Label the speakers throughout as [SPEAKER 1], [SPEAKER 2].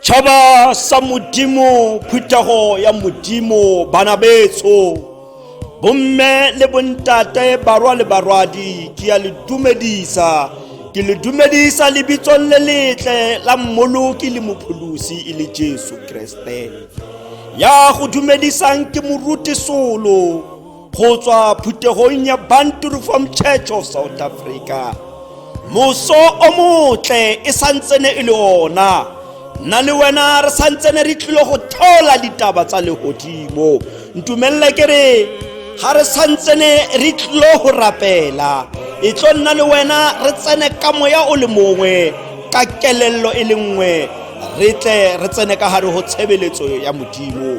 [SPEAKER 1] tšhaba sa modimo phuthego ya modimo bana betso bomme le bontate barwa le barwadi ke ya le dumedisa ke le dumedisa lebitsong le letle la mmoloki le mopholosi e le jesu kriste ya go dumedisang ke moruti solo go tswa phuthegong ya banturu from church of south africa moso o motle e santsene e le ona nna le wena re santsene re tlile go theola ditaba tsa legodimo ntumelele ke re ga re santsene re tlilo go rapela e tlo nna le wena re tsene ka moya o le mongwe ka kelello e le nngwe re tle re tsene ka gare go tshebeletso ya modimo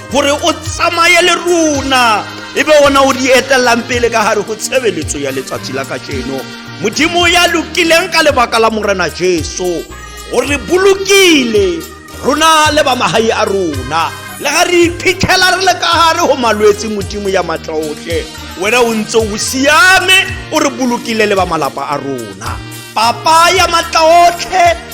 [SPEAKER 1] gore o tsamaye le rona e be ona o di etelelang pele ka gare go tshebeletso ya letsatsi la kajeno modimo ya lokileng ka lebaka la morena jesu o re bolokile rona le ba magae a rona le ga re iphitlhela re le ka gare go malwetse modimo ya matla otlhe wena o ntse o siame o re bolokile le ba malapa a rona papa ya matla otlhe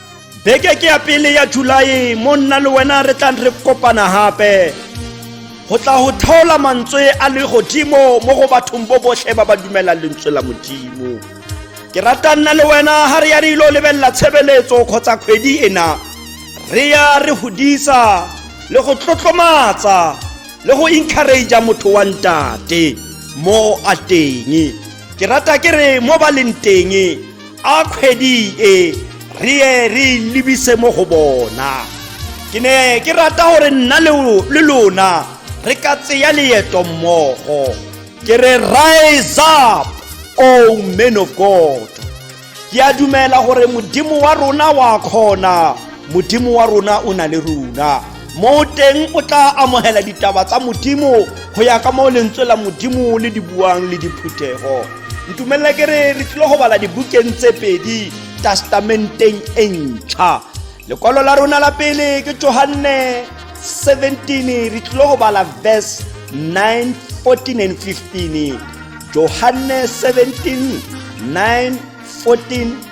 [SPEAKER 1] beke ke ya pele ya julae mo nna le wena re tlang re kopana gape go tla go thaola mantswe a le godimo mo go bathong bo botlhe ba ba dumelang lentswe la modimo ke rata nna le wena ga re ya re ilo lebelela tshebeletso kgotsa kgwedi ena re ya re godisa le go tlotlomatsa le go encouragea motho wa ntate mo a teng ke rata ke re mo ba leng teng a kgwedi e re ye re lebise mo go bona ke ne ke rata gore nna le lona re ka tseya leeto mmogo ke re rise up o oh man of god ke a dumela gore modimo wa rona wa kgona modimo wa rona o na le rona moo teng o tla amogela ditaba tsa modimo go ya ka moo lentswe la modimo le di buang le diphuthego ntumelela ke re re tlile go bala dibukeng tse pedi testamenteng e ntšha lekwalo la rona la pele ke johanne 17 re tlile go bala verse 9 14 and 15 johanne 17 9 14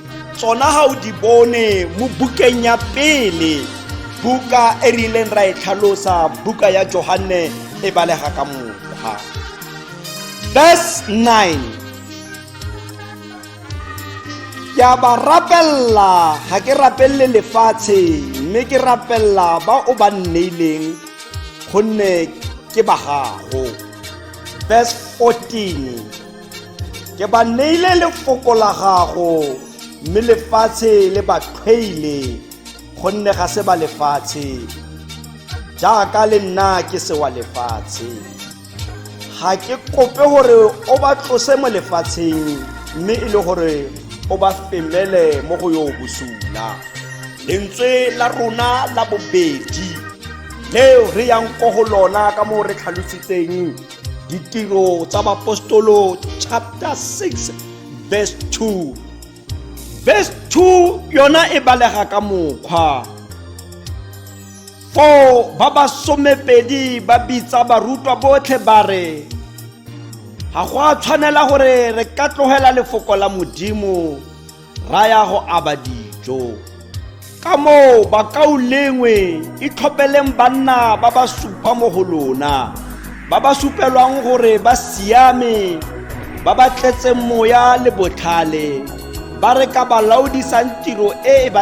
[SPEAKER 1] tsona ga o di bone mo bukeng ya pele buka e rileng ra e tlhalosa buka ya johanne e balega ka mokgwa verse 9 ke a ba rapelela ga ke rapelele lefatshe mme ke rapelela ba o ba nneileng gonne ke ba gago verse 14 ke ba neile lefoko la gago mme lefatshe le ba tlhweile gonne ga se ba lefatshe jaaka le nna ke se wa lefatshe ga ke kope gore o ba tlose mo lefatsheng mme e le gore o ba femele mo go yo bosula lentswe la rona la bobedi leo re yang ko go lona ka moo re tlhalositseng ditiro tsa bapostolo chapter 6 verse 2 verse 2 yona e balega ka mokgwa foo ba ba somepedi ba bitsa barutwa botlhe ba re ga go a tshwanela gore re ka tlogela lefoko la modimo raya go aba dijo ka moo bakaulengwe e tlhopeleng banna ba ba supa mo go lona ba ba supelwang gore ba siame ba ba tletseng moya le botlhale ba re ka ba laodisang tiro e e ba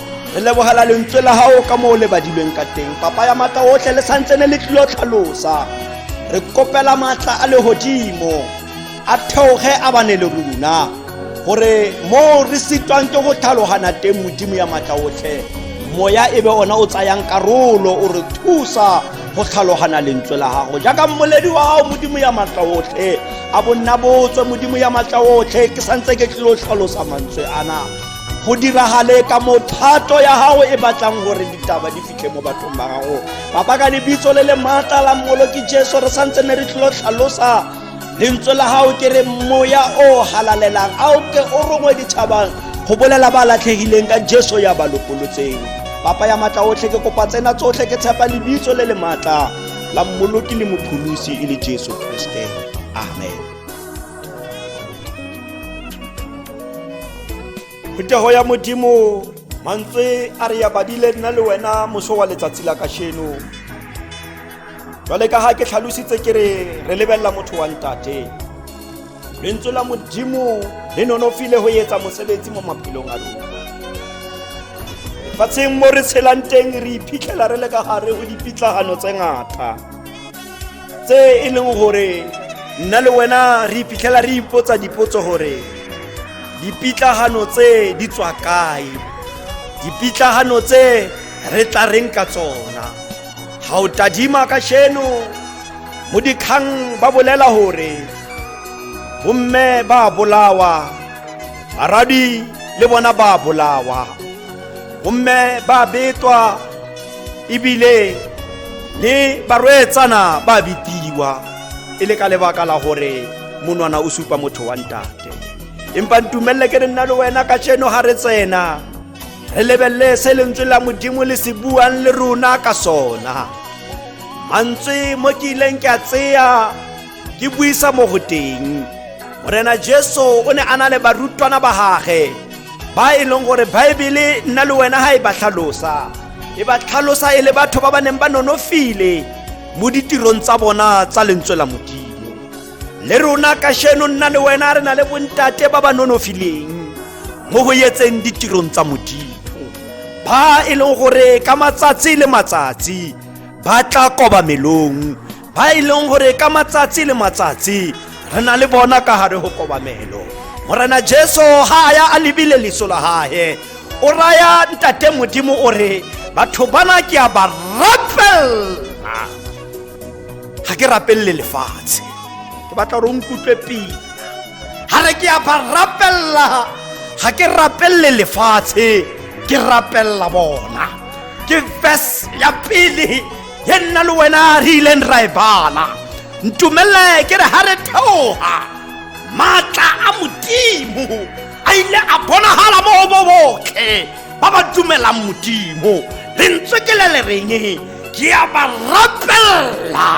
[SPEAKER 1] re lebogela lentswe la gago ka mo o le badilweng ka teng papa ya maatla otlhe le santsene le tlilo tlhalosa re kopela maatla a legodimo a theoge a bane le rona gore mo re sitwang ke go tlhalogana teng modimo ya maatla otlhe moya e be ona o tsayang karolo o re thusa go tlhalogana lentswe la gago jaaka mmoledi wa gago modimo ya maatla otlhe a bonna botswe modimo ya maatla otlhe ke santse ke tlilo tlhalosa mantswe ana go diragale ka mothato ya gago e batlang gore ditaba di fitlhe mo bathong ba gago papa ka lebitso le le maatla la mmoloki jesu re santse ne re tlholo tlhalosa lentswe la gago ke re moya o halalelang a o ke o rongwe ditšhabang go bolela ba latlhegileng ka jesu ya ba lokolotseng papa ya maatla otlhe ke kopa tsena tsotlhe ke tshepa lebitso le le maatla la mmoloki le mopholosi e le jesu kriste amen phetogo ya modimo mantswe a re ya badile nna le wena moso wa letsatsi la kasheno jwale ka ga ke tlhalositse ke re re lebelela motho wa ntate lentswe la modimo le nonofile go etsa mosebetsi mo maphelong a lona fatsheng mo re tshelang teng re iphitlhela re le ka gare go dipitlagano tse ngata tse e leng gore nna le wena re iphitlhela re ipotsa dipotso gore dipitlagano tse di tswa kae dipitlagano tse re tla reng ka tsona ga o tadima ka sheno mo dikgang ba bolela gore bomme ba bolawa baradi le bona ba bolawa gomme ba betwa ebile le barweetsana ba bitiwa e le ka lebaka la gore monwana o supa motho wa ntate empa ntumelele ke re nna le wena ka tseno ga re tsena re lebelele se lentswe la modimo le se buang le rona ka sona mantswe mo ke ileng ke a tseya ke buisa mo go teng morena jesu o ne a na le barutwana ba gage ba e leng gore baebele nna le wena ga e ba tlhalosa e ba tlhalosa e le batho ba ba neng ba nonofile mo ditirong tsa bona tsa lentswe la modimo le rona kasheno nna le wena re na le bontate ba ba nonofileng mo go yetseng ditirong tsa modimo ba e leng gore ka matsatsi le matsatsi ba tla kobamelong ba e leng gore ka matsatsi le matsatsi re na le bona ka gare go kobamelo morena jesu ga a ya a lebile leso la gage o raya ntate modimo o re batho bana ke a ba rapelela ga ke rapelele lefatshe ke batla gore o nkutlwe pila ga re ke a ba rapelela ga ke rapelele lefatshe ke rapelela bona ke verse ya pele ye nna le wena re ileng ra e bala ntumelele ke re ga re theoga maatla a modimo a ile a bonagala mo go bo botlhe ba ba dumelang modimo lentswe ke le le reng ke a ba rapelela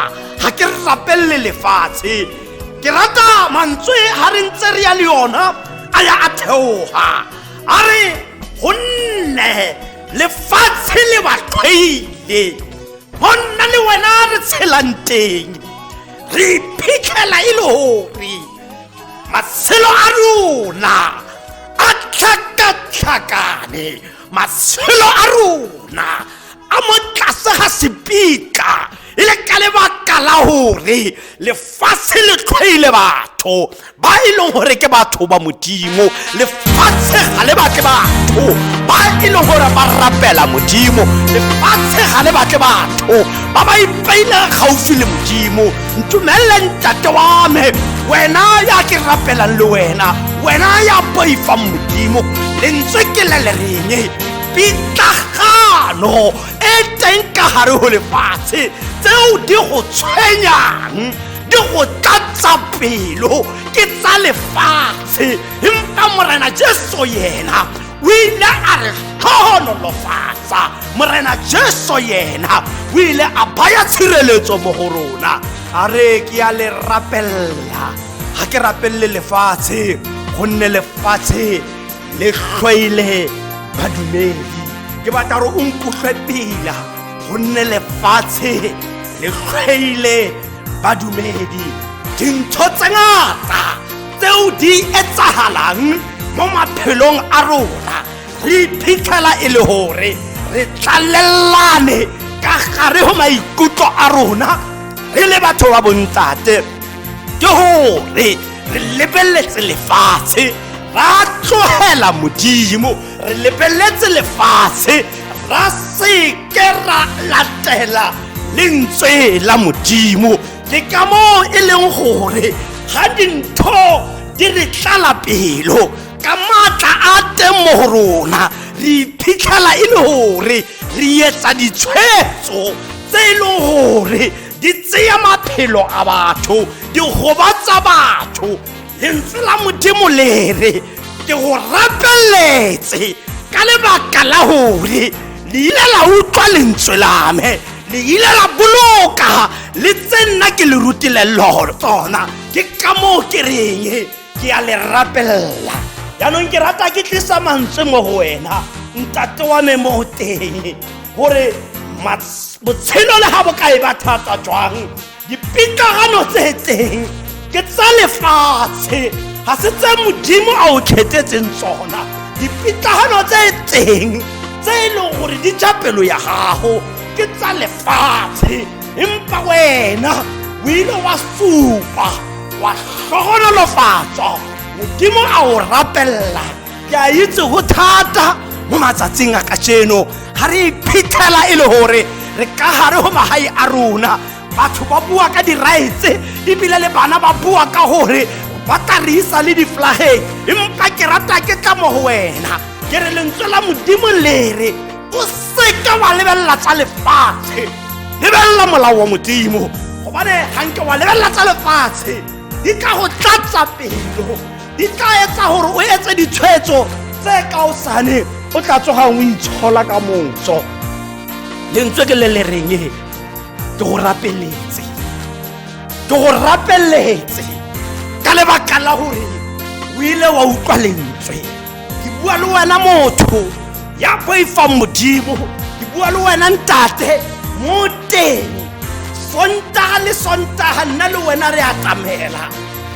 [SPEAKER 1] ga ke rapelele lefatshe ke rata mantswe ga re ntse re ya le yona a ya a theoga a re gonne lefatshe le ba qhwaile go nna le wena re tshelang teng re iphitlhela e le gore matshelo a rona a tlhakatlhakane matshelo a rona a mo tlase ga sepika e le ka lebaka la gore lefatshe le tlhoile batho ba e leng gore ke batho ba modimo lefatshe ga le batle batho ba e leng gore ba rapela modimo lefatshe ga le batle batho ba ba ipeilang gaufi le modimo ntumelele ntate wa me wena ya ke rapelang le wena wena ya boifang modimo lentswe ke le le reng pitlagano e teng ka gare go lefatshe tseo di go tshwenyang di go tlatsa pelo ke tsa lefatshe empa morena jesu yena o ile a re tlhogonolofatsa morena jesu yena o ile a baya tshireletso mo go rona a re ke ya le rapelela ga ke rapelele lefatshe gonne lefatshe le tlhoile badumedi ke batla gore o nkutlwe pila gonne lefatshe le tlhoile badumedi dintho tse ngata tseo di etsagalang mo maphelong a rona re iphitlhela e le gore re tlalelelane ka gare go maikutlo a rona re le batho ba bontate ke gore re lebeletse lefatshe ra tlogela modimo re lebeletse lefatshe ra seke ra latela lentswe la modimo le ka moo e leng gore ga dintho di re tlala pelo ka maatla a teng mo go rona re iphitlhela e le gore re etsa ditshwetso tse e leng gore di tseya maphelo a batho di gobatsa batho lentswe la modimo lere ke go rapeletse ka lebaka la gore le ile la utlwa lentswe lame le ile la boloka le tse nna ke le rutile tsona ke ka moo ke reng ke a le rapelela jaanong ke rata ke tlisa mantswe mo go wena ntate wa me mo teng gore botshelo le ga bokae ba thata jwang dipitlagano tse teng ke tsa lefatshe ga se tse modimo a o kgethetseng tsona dipitlagano tse teng tse e leng gore di ja pelo ya gago ke tsa lefatshe empa wena o ile wa supa wa hlohonolofatsa modimo a o rapella ke a itse go thata mo matsatsing a kajeno ga re iphitlhela e le gore re ka gare go magae a rona batho ba bua ka diraetse ebile le bana ba bua ka gore ba tla re isa le diflageng empa ke rata ke tla mo go wena ke re lentswe la modimo lere o seka wa lebelela tsa lefatshe lebelela molao wa modimo gobane ganke wa lebelela tsa lefatshe di tla go tlatsa pelo di tla etsa gore o etse ditshwetso tse ka o sane o tla tsogang o itshola ka motso lentswe ke le le reng ke go rapeletse ke go rapeletse ka lebaka la gore o ile wa utlwa lentswe ke bua le wena motho ya boifang modimo ke bua le wena ntate mo teng sontaga le sontaga nna le wena re atamela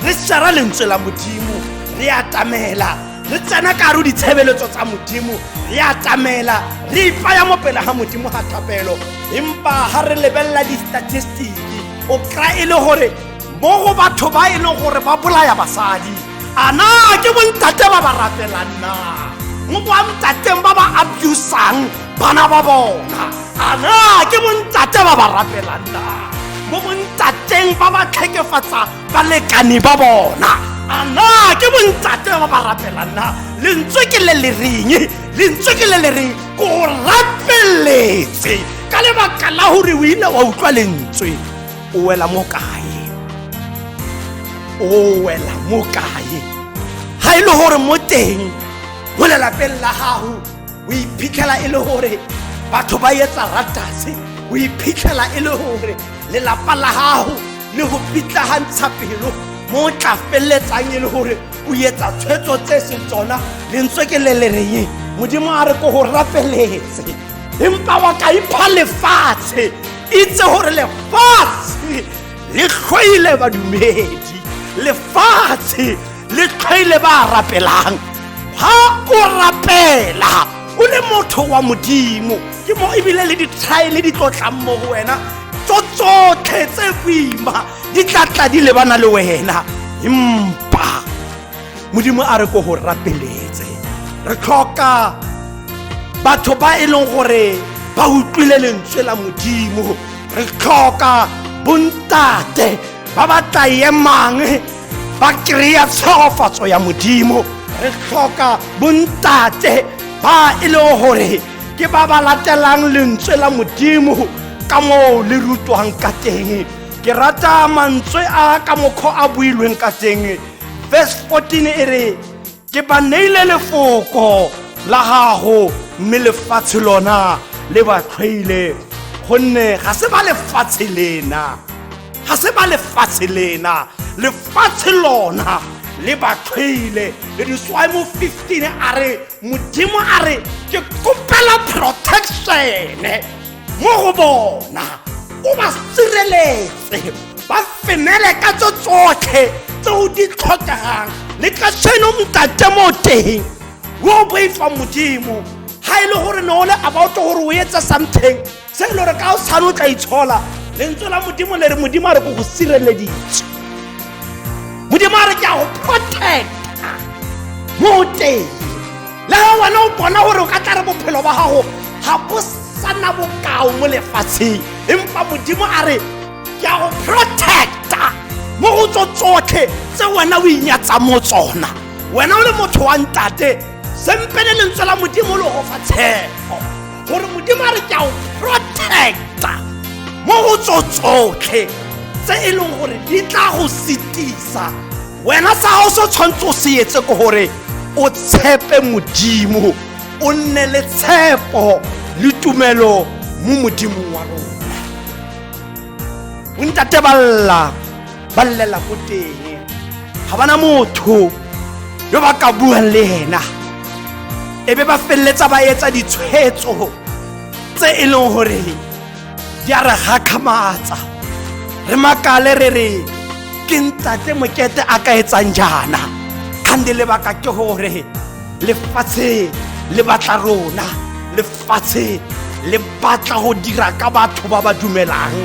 [SPEAKER 1] re shara lentswe la modimo re atamela re tsena ka re ditshebeletso tsa modimo re atamela re ipaya mo pele ga modimo ga thapelo empa ga re lebelela di-statistiki o kry e le gore mo go batho ba e leng gore ba bolaya basadi a na ke bontate ba ba rapelang na mo kwa ntateng ba ba abusang bana ba bona a na ke bontate ba ba rapelang na mo bontateng ba ba tlhekefatsa balekane ba bona a na ke bontate ba ba rapelang na lentswe ke le lereng lentswe ke le lereng ko rapeletse ka lebaka la gore o ile wa utlwa lentswe o wela mo kae o wela mo kae ga e le gore mo teng mo lelapeng la gago o iphitlhela e le gore batho ba etsa ratase o iphitlhela e le gore lelapa la gago le go pitlagantsha pelo mo o tla feleletsang e le gore o etsa tshwetso tse seng tsona lentswe ke le le reng modimo a re ko go rafeletse empa wa ka ipha lefatshe itse gore lefatshe le tlhoile badumedi lefatshe le tlhoile ba rapelang ha o rapela o le motho wa modimo ke mo ebile le dithaele di tlotlang mo go wena tso tsotlhe tse boima di tlatla di lebana le wena empa modimo a re ko go rapeletse re tlhoka batho ba e leng gore ba utlwile lentswe la modimo re tlhoka bontate ba ba tla emang ba kry-a tshwagofatso ya modimo re tlhoka bontate ba e leng gore ke ba ba latelang lentswe la modimo ka moo le rutwang ka teng ke rata mantswe a ka mokgwa a builweng ka teng verse 14 e re ke ba neile lefoko la gago mme lefatshe lona le ba tlhwaile gonne ga se ba lefatshe lena ga se ba lefatshe lena lefatshe lona le ba tlhwaile le diswae mo 15 a re modimo a re ke kopela protection mo go bona o ba sireletse ba fenele ka tso tsotlhe tse o di tlhokegang le ka seno ntate mo teng o boifa modimo ga e le gore ne o le about gore o etse something se e le gore ka o tshwane o tla itshola lentswe la modimo le re modimo a re ko go sireleditse modimo a re ke a go protecta mo teng le ga wena o bona gore o ka tla re bophelo ba gago ga bo sana bokao mo lefatsheng empa modimo a re ke a go protecta mo go tso tsotlhe tse wena o inyatsa mo tsona wena o le motho wa ntate sempe le lentswe la modimo le go fa tshepo gore modimo a re ke a go protecta mo go tso tsotlhe tse e leng gore di tla go setisa wena sa gago se tshwanetse o se etse ke gore o tshepe modimo o nne le tshepo le tumelo mo modimong wa rona bontate ba lla ba llela ko teng ga bana motho yo ba ka buang le ena e be ba feleletsa ba etsa ditshwetso tse e leng gore di a re gakgamatsa re makale re re ke ntate mokete a ka etsang jaana kgande lebaka ke gore lefatshe le batla rona lefatshe le batla go dira ka batho ba ba dumelang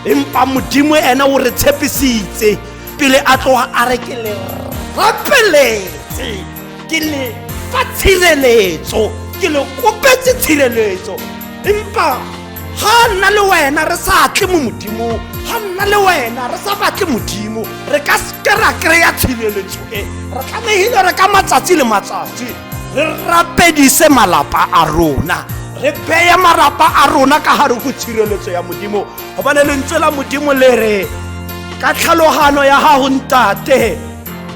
[SPEAKER 1] empa modimo ene o re tshepisitse pele a tloga a re ke le rapeletse ke le fa tshireletso ke le kopetse tshireletso empa ga nna le wena re sa tle mo modimong ga nna le wena re sa batle modimo re ka seke ra kry-a tshireletso e re tlamehile re ka matsatsi le matsatsi re rapedise malapa a rona re beye marapa a rona ka gare go tshireletso ya modimo gobane lentswe la modimo le re ka tlhalogano ya gago ntate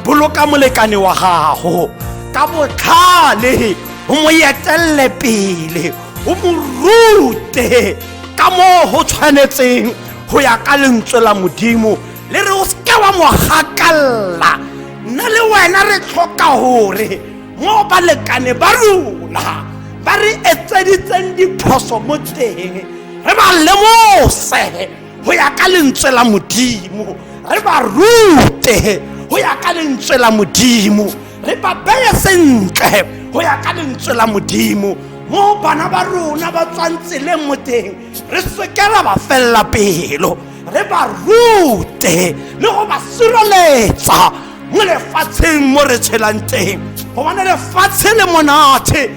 [SPEAKER 1] boloka molekane wa gago ka botlhale o mo etelele pele o mo rute ka moo go tshwanetseng go ya ka lentswe la modimo le re o seke wa mo gakalela nna le wena re tlhoka gore mo balekane ba rona ba re etseditseng diphoso mo teng re ba lemose go ya ka lentswe la modimo re ba rute go ya ka lentswe la modimo re ba beye sentle go ya ka lentswe la modimo mo bana ba rona ba tswang tseleng mo teng re sekela ba felela pelo re ba rute le go ba sireletsa mo lefatsheng mo re tshelang teng gobane lefatshe le monate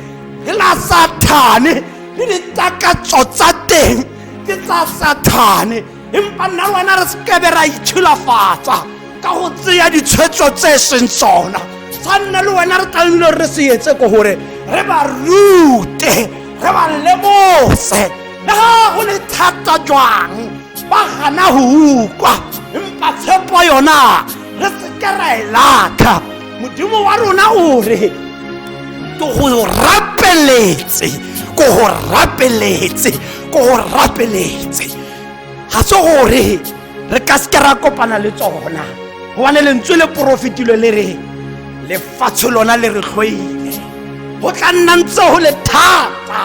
[SPEAKER 1] le la sathane le ditakatso tsa teng ke tsa sathane empa nna le wena re sekebe ra itšhilafatsa ka go tseya ditshwetso tse e seng tsona sa nna le wena re tlamehile gore re se etse ko gore re ba rute re ba lemose le ga go le thata jwang ba gana go ukwa empa tshepo yona re seke ra e latlha modimo wa rona o re ke go rapeletse ko go rapeletse ko go rapeletse ga se gore re ka seke ra kopana le tsona gobane lentswe le porofetilo le re lefatshe lona le re tlhoile go tla nna ntse go le thata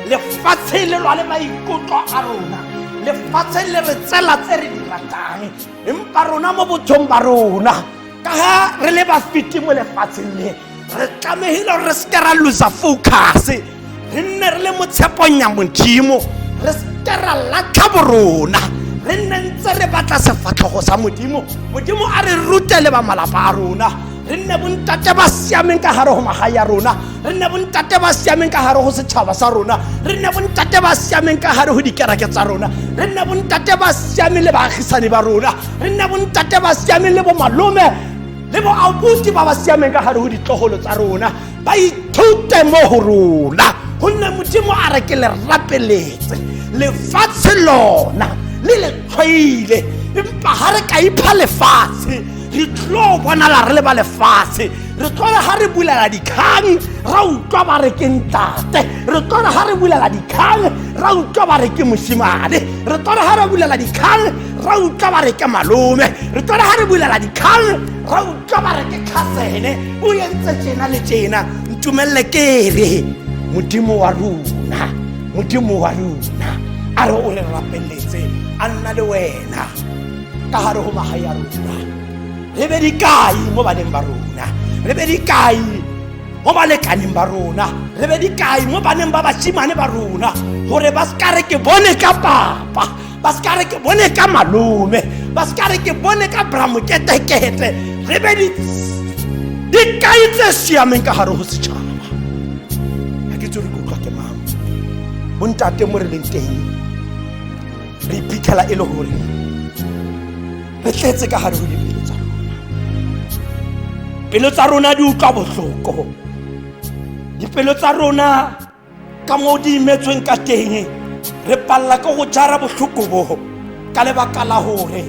[SPEAKER 1] lefatshe le lwa le maikutlo a rona lefatshe le re tsela tse re di ratang empa rona mo botshong ba rona ka ga re le bafiti mo lefatsheng le re tlamegile gore re seke ra losa focus re nne re le mo tshepong ya modimo re seke ra latlha borona re nne ntse re batla sefatlhogo sa modimo modimo a re rute le ba malapa a rona re nne bontate ba siameng ka gare go maga ya rona re nne bontate ba siameng ka gare go setšhaba sa rona re nne bontate ba siameng ka gare go dikereke tsa rona re nne bontate ba siameng le baagisane ba rona re nne bontate ba siameng le bomalome le boabuti ba ba siameng ka gare go ditlogolo tsa rona ba ithute mo go rona gonne modimo a re ke le rapeletse lefatshe lona le le tlhwaile empa ga re ka ipha lefatshe re tlo bonala re le ba lefatshe re tlole ga re bulela dikgang ra utlwa ba re ke ntate re tlole ga re bulela dikgang ra utlwa ba re ke mosimane re tlole ga re bulela dikgang ra utlwa ba re ke malome re tlole ga re bulela dikgang ra utlwa ba re ke tlhasene o entse tjena le tjena ntumelele ke re modimo wa rona modimo wa rona a re o re rapeletse a nna le wena ka gare go magae a rona re be dikai mo baneng ba rona re be dikai mo balekaneng ba rona re be dikai mo baneng ba basimane ba rona gore ba seka re ke bone ka papa ba seka re ke bone ka malome ba seka re ke bone ka bramoketekete re be dikai tse siameng ka gare go setšhaba ga ke tse re kutlwa ke mang bontate mo re leng teng re iphitlhela e le gore re tletse ka gare go dipelo tsa rona pelo tsa rona di utlwa botlhoko dipelo tsa rona ka moo di imetsweng ka teng re palela ka go jara botlhoko bo ka lebaka la gore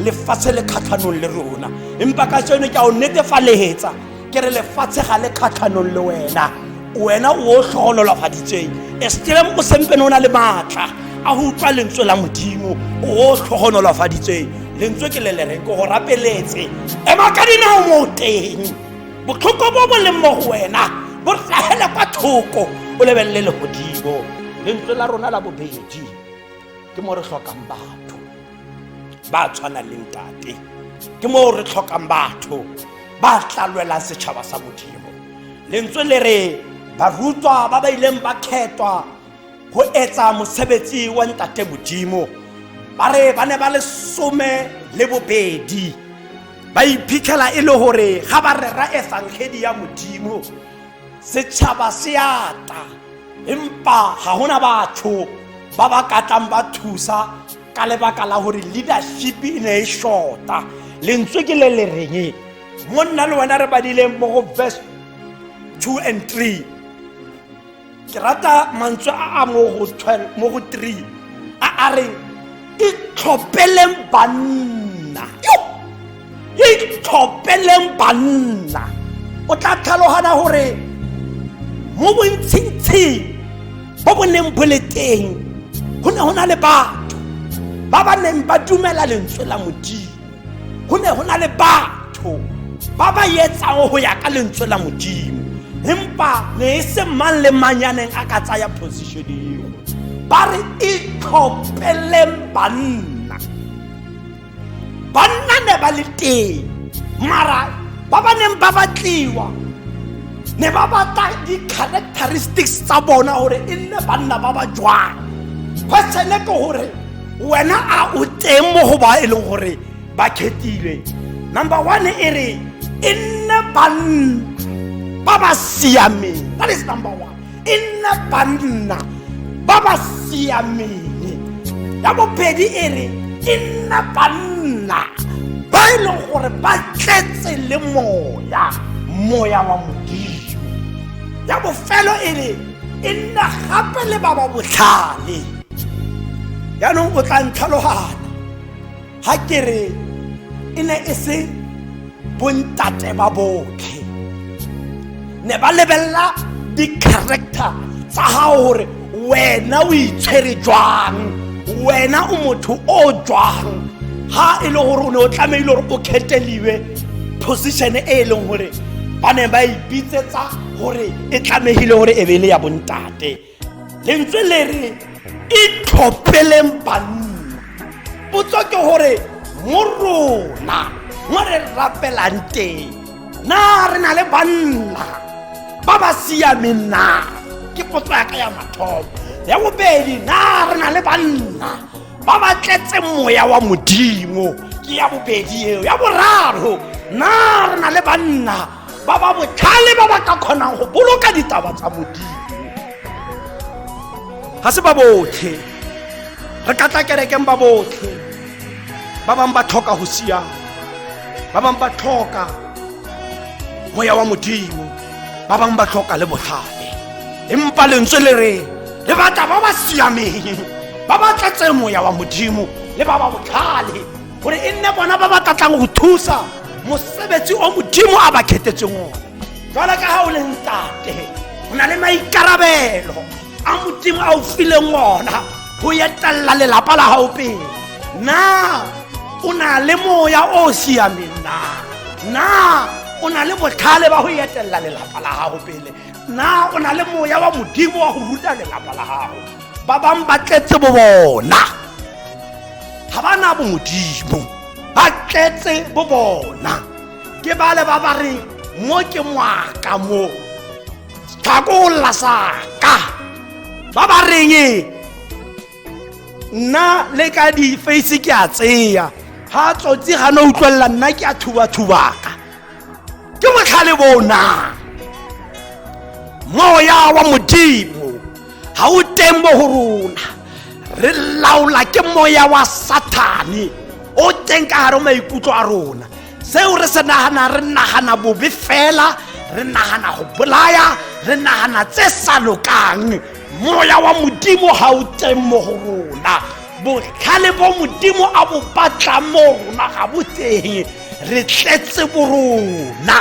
[SPEAKER 1] lefatshe le kgatlhanong le rona empa ka seno ke a o netefaletsa ke re lefatshe ga le kgatlhanong le wena wena o tlhogololafaditseng estelem o sempene o na le maatla a go utlwa lentswe la modimo o tlhogonolafaditseng lentswe ke le le reng ko go rapeletse ema ka dinao mo teng botlhoko bo bo leng mo go wena bo tlagele kwa thoko o lebelele legodimo lentswe la rona la bobedi ke mo re tlhokang batho ba tshwana le ntate ke moo re tlhokang batho ba tla lwelang setšhaba sa modimo lentswe le re barutwa ba ba ileng ba kgethwa go etsa mosebetsi wa ntate modimo ba re ba ne ba le some le bobedi ba iphitlhela e le gore ga ba rera efangedi ya modimo setšhaba se ata empa ga gona batho ba ba katlang ba thusa ka lebaka la gore leadership e ne e shorta lentswe ke le le reng mo nna le wena re badileng mo go verse 2 and 3 ke rata mantswe a a mo go 12 mo go 3 a a reng itlhophele banna ke itlhopeleng banna o tla tlhalogana gore mo bontshintshing bo bo neng bo le teng go ne go na le batho ba ba neng ba dumela lentswe la modimo go ne go na le batho ba ba etsang go ya ka lentswe la modimo empa ne e se mang le manyaneng a ka tsaya position eo ba re itlhopeleng banna banna ne ba le teng mara ba ba neng ba batliwa ne ba batla di-characteristics tsa bona gore e nne banna ba ba jwang quesene ke gore wena a o teng mo go ba e leng gore ba khetilwe number one e re e nne banna ba ba siameng that is number one e nna banna ba ba siameng ya bobedi e re e nna banna ba e leng gore ba tletse le moya moya wa modimo ya bofelo e re e nna gape le ba ba botlhale jaanong o tla ntlhalogana ga ke re e ne e se bontate ba botlhe ne ba lebelela di-character tsa gago gore wena o itshwere jwang wena o motho o jwang ga e le gore o ne o tlamehile gore o kgetheliwe position e e leng gore ba ne ba ipitsetsa gore e tlamehile gore e be e le ya bontate lentswe le re itlhophileng banna potso ke gore mo rona mo re rapelang teng na re na le banna ba ba siameng na ke potso ya ka ya mathomo ya bobedi na re na le banna ba ba tletseng moya wa modimo ke ya bobedi eo ya boraro na re na le banna ba ba botlhale ba ba ka kgonang go boloka ditaba tsa modimo ga se ba botlhe re ka tla kerekeng ba botlhe ba bangwe ba tlhoka go siama ba bangwe ba tlhoka moya wa modimo ba bangwe ba tlhoka le botlhale empa lentswe le re le batla ba ba siameng ba ba tletseng moya wa modimo le ba ba botlhale gore e nne bona ba ba tlatlang go thusa mosebetsi o modimo a ba khetetseng one jwale ka ga o leng tate o na le maikarabelo a modimo a o fileng ona go etelela lelapa la gago pele na o na le moya o o siameng na na o na le botlhale ba go etelela lelapa la gago pele na o na le moya wa modimo wa go ruta lelapa la gago ba bang ba tletse bo bona ga ba na bomodimo ba tletse bo bona ke bale ba ba re mo ke moaka mo tlhakolla saka ba ba reng nna le ka di-face ke a tseya ga tsotsi ga ne utlwelela nna ke a thubathubaka ke botlhale bo na moya wa modimo ga o teng mo go rona re laola ke moya wa sathane o teng ka gare maikutlo a rona seo re se nagana re nagana bobe fela re nagana go bolaya re nagana tse sa lokang moya wa modimo ga o teng mo go rona botlhale bo modimo a bo batlang mo rona ga bo teng re tletse borona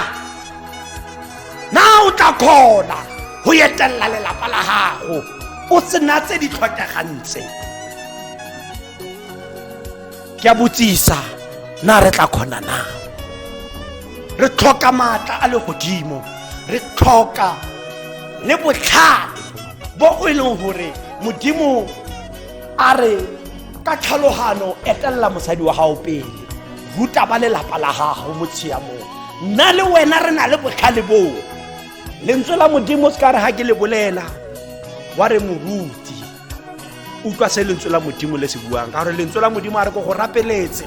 [SPEAKER 1] na o tla kgona go etelela lelapa la gago o sena tse di tlhokegang tse ke a botsisa na re tla kgona na re tlhoka maatla a legodimo re tlhoka le botlhale bo o e leng gore modimo a re ka tlhalogano etelela mosadi wa gago pele ruta ba lelapa la gago mo tshiamong nna le wena re na le botlhale boo lentswe la modimo se ka re ga ke le bolela wa re moruti utlwa se lentswe la modimo le se buang ka gore lentswe la modimo a re ko go rapeletse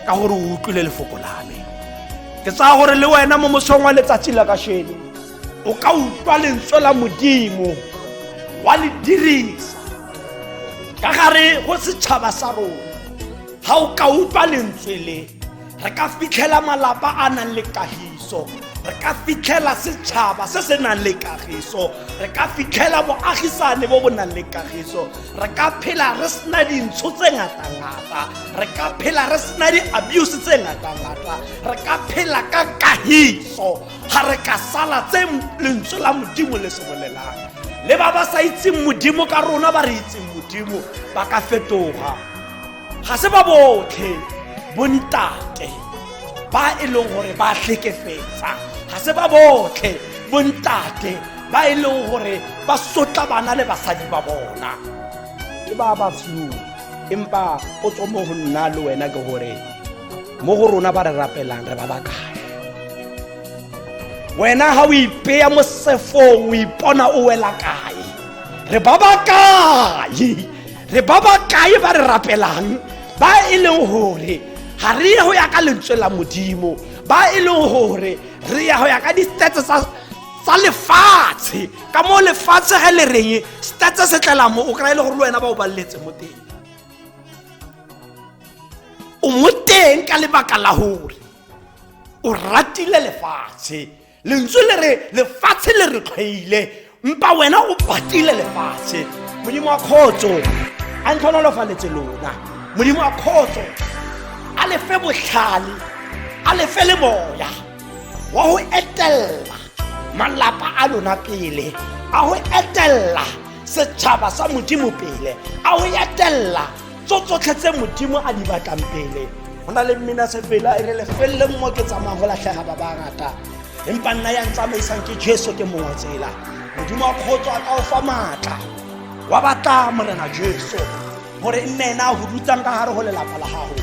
[SPEAKER 1] ka gore o utlwile lefoko la me ke tsaya gore le wena mo mosong wa letsatsi la kasheno o ka utlwa lentswe la modimo wa le dirisa ka gare go setšhaba sa rona ga o ka utlwa lentswe le re ka fitlhela malapa a nang le kagiso re ka fitlhela setšhaba se se nang le kagiso re ka fitlhela boagisane bo bo nang le kagiso re ka phela re sena dintsho tse ngatangata re ka phela re sena di-abuse tse ngatangata re ka phela ka kagiso ga re ka sala tse lentswe la modimo le se bolelang le ba ba sa itseng modimo ka rona ba re itseng modimo ba ka fetoga ga se ba botlhe bontate ba e leng gore ba tlhekefetsa ga se ba botlhe bontate ba e leng gore ba sotla bana le basadi ba bona ke ba ba few empa potso mo go nna le wena ke gore mo go rona ba re rapelang re ba ba kae wena ga o ipeya mo sefong o ipona o wela kae re ba ba kae re ba ba kae ba re rapelang ba e leng gore ga re ye go ya ka lentswe la modimo ba e leng gore re ya go ya ka di-stats tsa tsa lefatshe ka mo lefatshe ge le reng stats se tlela mo o kry-e le gore le wena ba o baleletse mo teng o mo teng ka lebaka la gore o ratile lefatshe lentswe le re lefatshe le re tlhwaile mpa wena o patile lefatshe modimo wa kgotso a ntlhonolofaletse lona modimo wa kgotso a lefe botlhale a lefe le moya wa go etelela malapa a lona pele a go etelela setšhaba sa modimo pele a go etelela tso tsotlhe tse modimo a di batlang pele go na le mmina sepela e re lefeleleng mo ke tsamayang go latlhega ba ba ngata empa nna yang tsamaisang ke jesu ke mongwe tsela modimo wa kgotso a ka o fa maatla wa batla morena jesu gore e nne ena a go dutsang ka gare go lelapa la gago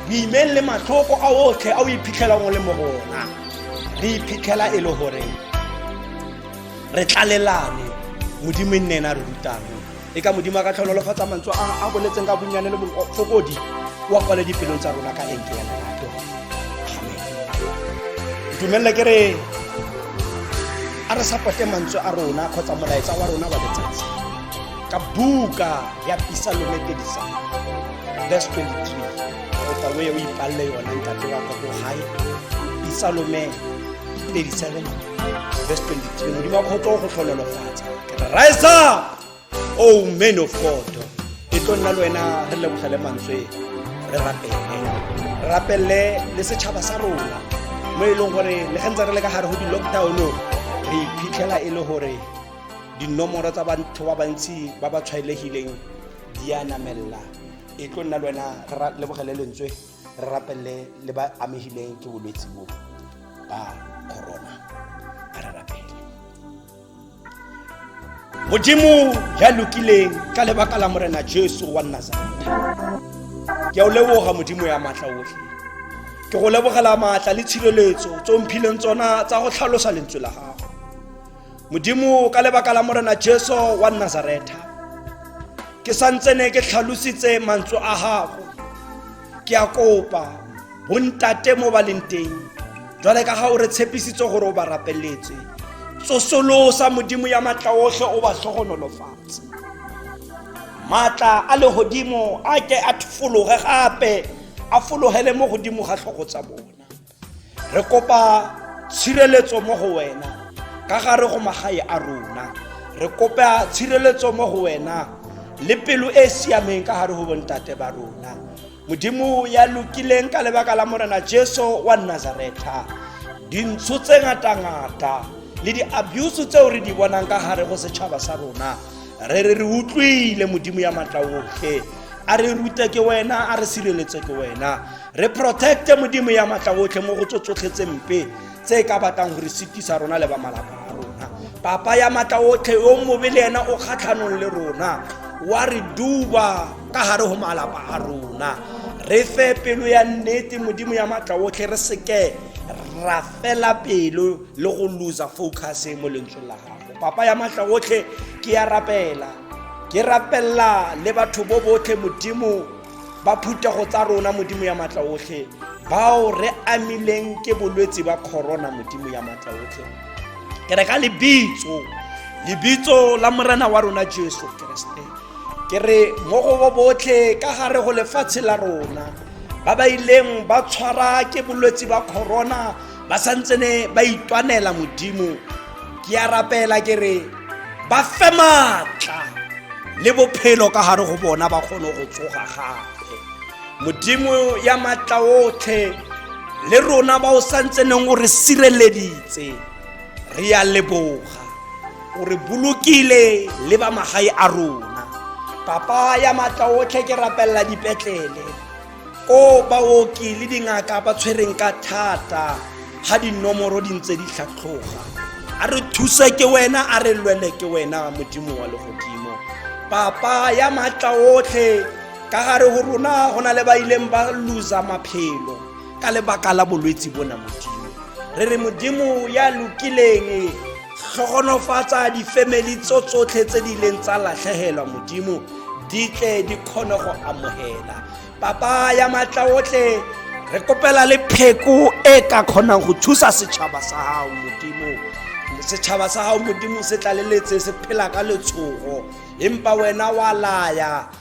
[SPEAKER 1] boimeng le matlhoko a otlhe a o iphitlhelang o le mo gona re iphitlhela e le gore re tlalelane modimo e nne ena re rutang e ka modimo a ka tlhono le kgotsa mantswe a boletseng ka bonnyane le bofokodi wa kwale dipelong tsa rona ka enke ya lerato amen dumelele ke re a re sapote mantswe a rona kgotsa molaetsa wa rona wa letsatsi ka buka ya pisalome 37 verse 23 kopa o ye o ipalle yona ntate wa ka ko gae pisalome 37 verse 23 modimo wa kgotso o go tlhonolofatsa ke re rise up o oh, man of god e tlo nna le wena re lebogele mantswe re rapele re rapelele le setšhaba sa rona mo e leng gore le ge ntse re le ka gare go di-lockdown re iphitlhela e le gore dinomoro tsa batho ba bantsi ba ba tshwaelegileng di a namelela e tlo nna le wena re lebogele lentswe re rapelele le ba amegileng ke bolwetse bo ba corona a re rapele modimo ya lokileng ka lebaka la morena jesu wa nazareta ke a o leboga modimo ya maatla otlhe ke go lebogela maatla le tshireletso tse o mphileng tsona tsa go tlhalosa lentswe la gago modimo ka lebaka la morena jesu wa nazaretha ke santsene ke tlhalositse mantswe a gago ke a kopa bontate mo ba leng teng jwale ka ga o re tshepisitse gore o ba rapeletse tsosolosa modimo ya matla otlhe o ba tlhogonolofatse maatla a legodimo a ke a fologe gape a fologele mo godimo ga tlhogo tsa bona re kopa tshireletso mo go wena ka gare go magae a rona re kopa tshireletso mo go wena le pelo e e siameng ka gare go bontate ba rona modimo ya lokileng ka lebaka la morena jesu wa nazaretha dintsho tse ngata-ngata le di-abuse tseo re di bonang ka gare go setšhaba sa rona re re re utlwile modimo ya matla otlhe a re rute ke wena a re sireletse ke wena re protecte modimo ya matla otlhe mo go tso tsotlhe tse mpe tse e ka batlang gore setisa rona le ba malapa a rona papa ya matla otlhe yo mobe le ena o kgatlhanong le rona wa re duba ka gare go malapa a rona re fe pelo ya nnete modimo ya matla otlhe re seke ra fela pelo le go losa focus e mo lentsweng la gago papa ya matla otlhe ke ya rapela ke rapella le batho bo botlhe modimo ba phuthego tsa rona modimo ya matla otlhe bao re amileng ke bolwetse ba corona modimo ya matla otlhe ke re ka lebitso lebitso la morena wa rona jesu keresete ke re mo go bo botlhe ka gare go lefatshe la rona ba ba ileng ba tshwara ke bolwetse ba corona ba santsene ba itwanela modimo ke a rapela ke re ba fe maatla le bophelo ka gare go bona ba kgone go tsoga gape modimo ya maatla otlhe le rona ba o santseneng o re sireleditse re ya leboga o re bolokile le ba magae a rona papa ya maatla otlhe ke rapelela dipetlele o baoki le dingaka ba tshwereng ka thata ga dinomoro di ntse di tlhatlhoga a re thuse ke wena a re lwele ke wena modimo wa legodimo papa ya maatla otlhe ka gare go rona go na le ba ileng ba losa maphelo ka lebaka la bolwetse bona modimo re re modimo ya lokileng tlhogonofatsa difemeli tso tsotlhe tse di leng tsa latlhegelwa modimo di tle di kgone go amogela papa ya maatla otlhe re kopela le pheko e ka kgonang go thusa setšhaba sa gago modimo setšhaba sa gago modimo se tlaleletse se phela ka letshogo empa wena wa laya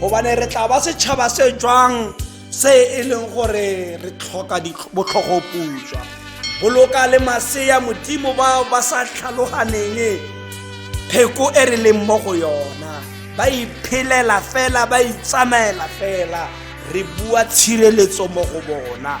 [SPEAKER 1] gobane re tla ba setšhaba se jwang se e leng gore re tlhoka botlhogoputswa boloka le masea modimo bao ba sa tlhaloganeng pheko e re leng mo go yona ba iphelela fela ba itsamaela fela re bua tshireletso mo go bona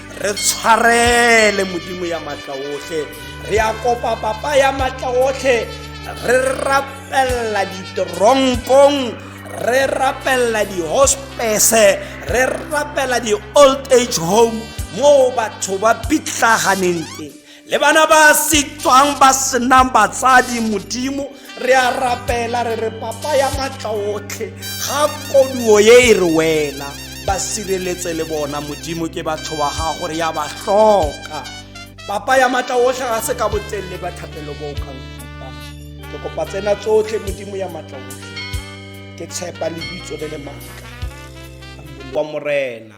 [SPEAKER 1] re tshwarele modimo ya matla otlhe re ya kopa papa ya matla otlhe re rapelela diteronkong re rapelela di-hospese re rapela di-old age home moo batho ba pitlaganeng teng le bana ba setswang ba senang batsadi modimo re a rapela re re papa ya matla otlhe ga koduo ye e re wela ba sireletse le bona modimo ke batho ba gago re ya ba tlhoka papa ya matla otlhe ga se ka botselle ba thapelo bo o kang fapa ke kopa tsena tsotlhe modimo ya matla otlhe ke tshepa lebitso le le maaka wa morena